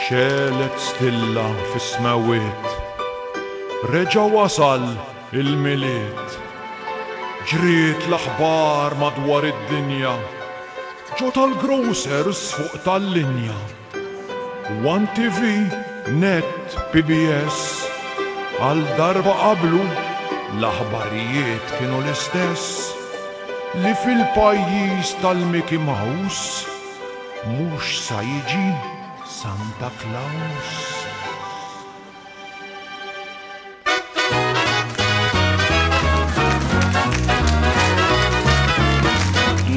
Xelet stilla fis-smewwiet, reġa' wasal il-Milied. Ġriet l-aħbar madwar id-dinja, ġo tal-grocers fuq tal-linja. One TV, Net, PBS, għal darba qablu l-aħbarijiet kienu l-istess. Li fil-pajjiż tal-Mickey Mouse mhux sa jiġi Santa Claus.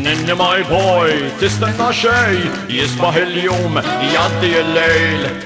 Ninni my boy, tistenna xej, jisbaħ il-jum, jaddi il-lejl.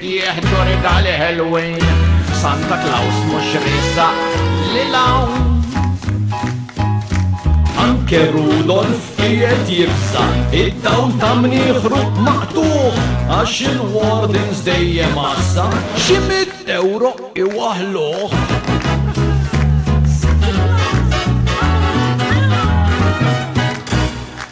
Jieħ ġuri tal-Halloween, Santa Claus mhux risa li lawn. Anke Rudolf qiegħed jibsa, id-dawn ta' mnieħru maqtuħ, għax il-wardens dejjem għassa, xi mit euro iwaħluh.